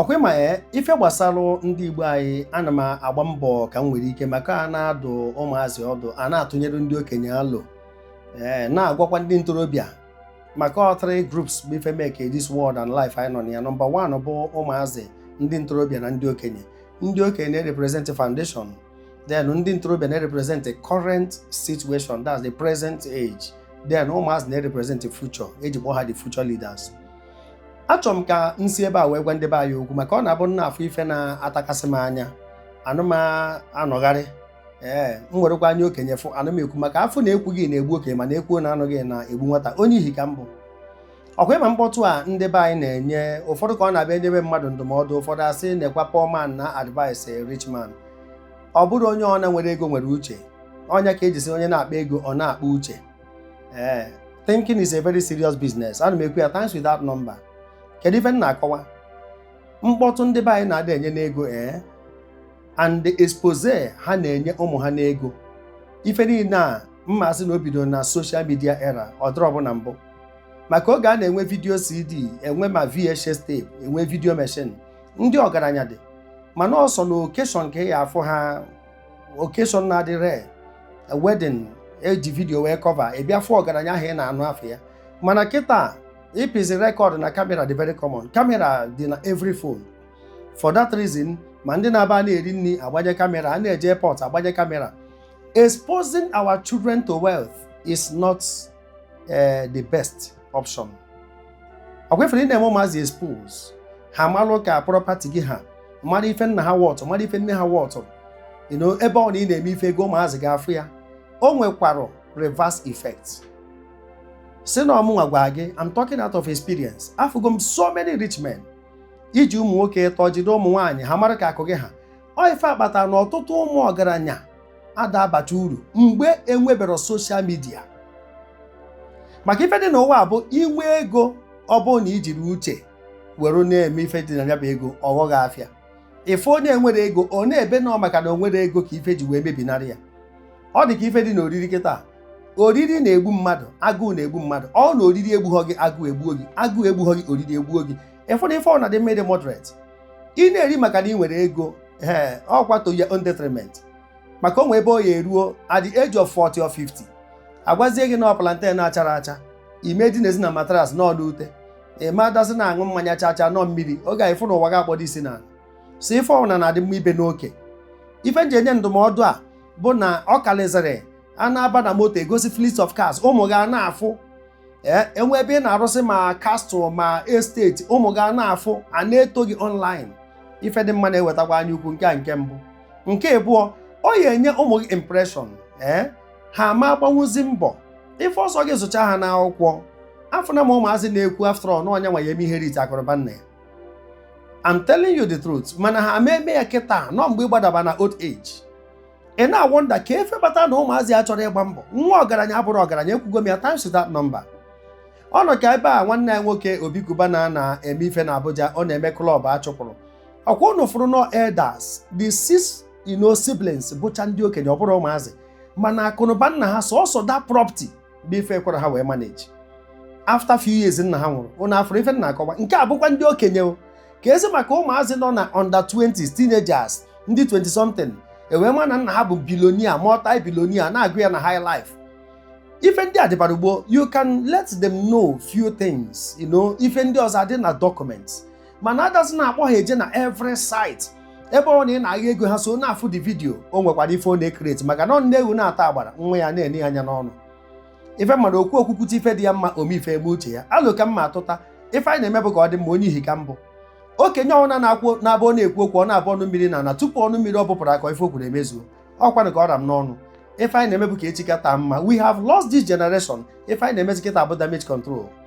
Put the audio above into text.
ọkwa ịma ya eh, ife gbasara ndị igbo anyị ana m agba mbọ ka m nwere ike maka a na-adụ ụmụazị ọdụ a na-atụnyere ndị okenye alo ee eh, na-agwakwa ndị ntorobịa maka ọ three groups bụ ife make this world and life anyị nọ na ya number one bụ ụmụazị ndị ntorobịa na ndị okenye ndị okenye na-represent foundation then ndị ntorobịa na-represent the current situation that's the present age then ụmụazị na-represent the future eji kpọọ ha the future leaders achọrọ m ka m si ebe a wee gwa ndị be anyị okwu maka ọ na-abụ m na-afụ ife na-atakasị m anya ana m anọgharị ee m werekwa anya okenye fụ ana m ekwu maka afụ na ekwughị na-egbu okenye mana ekwuo na anụghị na-egbu nwata onye ihi ka m bụ ọkwa ịma mkpọtụ a ndị be anyị na-enye ụfọdụ ka ọ na-abụ enyebe mmadụ ndụmọdụ ụfọdụ asị nekwa poor man na-advise rich man ọ bụrọ onye ọna nwere ego nwere uche ọ nya ka eji sị onye na-akpa ego ọ na-akpa uche ee thinking is a very serious business ana m ekwu ya times without number kedu ife m na-akọwa mkpọtụ ndị be anyị na-adị enye n'ego ee and the exposure ha na-enye ụmụ ha n'ego ife niile a m ma-asị na o bidoro na social media era ọ dịrọbu na mbụ maka oge a na-enwe video cd enwe ma vhs tape enwe video machine ndị ọgaranya dị mana ọ sọ na occasion ka ị ya-afụ ha occasion na-adị rare a wedding eji video wee cover ị bịa fụ ọgaranya ahụ ị na-anụ afa ya mana kịta ịpịzi record na camera dị very common camera dị na every phone for that reason ma ndị na-aba a na-eri nri agbanye camera a na-eje airport agbanye camera exposing our children to wealth is not ee eh, the best option ọkwa ifere ị na-eme ụmụazị expose ha malụ ka property gị ha mara ife nna ha worth mara ife nne ha worth ebe ọna ị na-eme ife ego ụmụazị ga-afụ ya o nwekwara reverse effect sị na ọ mụnwa gwara gị I'm talking out of experience afụgo m so many rich men iji ụmụ nwoke ịtọ jide ụmụ nwaanyị ha mara ka akụ gị ha ọ ife a kpata na ọtụtụ ụmụ ọgaranya ada abacha uru mgbe enwebero social media maka ife dị n'ụwa bụ inwe ego ọ bụrụ na ijirọ uche were na-eme ife dị na ya bụ ego ọ ghọọ gị afịa ị fụ onye nwere ego ọ na-ebe na ọ maka na o nwere ego ka ife ji wee mebinarị ya ọ dị ka ife dị n'oriri kịta oriri na-egbu mmadụ agụụ na-egbu mmadụ ọ na oriri egbughọ gị agụụ egbuo gị agụụ egbughọ gị oriri egbuo gị ị fụ na ife ọ na-adị mma ịdị moderate ị na-eri maka na ị nwere ego ee ọkwa to your own detriment maka o nwee ebe ọ ya-eru o at the age of 40 or 50 agwazie gị na ọ plantain na-acharọ acha ị ma-edinezi na mattress na ọ n'ute ị ma-adịzi na-aṅụ mmanya cha cha na ọ mmiri oge a ị fụ na ụwa gị akpọdo isi n'ana sị ife ọbụla na-adị mma ibe n'oke ife m ji enye ndụmọdụ a bụ na ọ karịzịrị a na-aba na moto egosi fleet of cars ụmụ gị a na-afụ ee enwe ebe ị na-arụsị ma castle ma estate ụmụ gị a na-afụ a na-eto gị online ife dị mma na-ewetakwa anya ukwu nke a nke mbụ nke abụọ ọ ya enye ụmụ gị impression ee ha ama agbanwuzi mbọ ife ọzọ gị zụcha ha n'akwụkwọ afọ na ma ụmụazị na-ekwu after all na ọ nya nwa ya eme inherit akụnụba nna ya I'm telling you the truth mana ha ama eme ya kịta n'ọ mgbe ị gbadaba na old age ị na-awonder ka ife kpata na ụmụazị achọrọ ịgba mbọ nwa ọgaranya abụrọ ọgaranya ekwugo m ya times without number ọ nọ ka ebe a nwanne anyị nwoke Obi Cubana na-eme ife na abuja ọ na-eme club a chụpụrụ ọkwa ụnụ fụrụ n'ọ elders the six you know siblings bụcha ndị okenye ọ bụrọ ụmụazị mana akụnụba nna ha sọsọ that property bụ ife ekwerọ ha wee manage after few years nna ha nwụrụ ụnụ afụrụ ife m na-akọwa nke a bụkwa ndị okenye keezi maka ụmụazị nọ na under 20s teenagers ndị 20 something e wee ma na nna ha bụ billionaire multi billionaire na-agụ ya na highlife ife ndị a dịbara gboo you can let them know few things you know ife ndị ọzọ adị na documents mana adazi na-akpọ ha eje na every site ebe ọ na ị na-agha ego ha so na-afụ the video o nwekwara ife ọ na-ecreate maka na ọ nne ewu na-ata agbara nwa ya na-ene ya anya n'ọnụ ife m ma na okwu okwu kwute ife dị ya mma ome ife emee uche ya alo ka mma atụta ife anyị na-eme bụ ka ọ dị mma onye ihi ka mbụ okenye ọbụna na-akwụ na-abụ ọ na-ekwu okwu ọ na-abụ ọnụ mmiri n'ana tupu ọnụ mmiri ọ bụpụrụ akọọ ife o kwuru emezuo ọ kwanụ ka ọ ra m n'ọnụ ife anyị na-eme bụ ka echi ka taa mma we have lost this generation ife anyị na-emezi kịta bụ damage control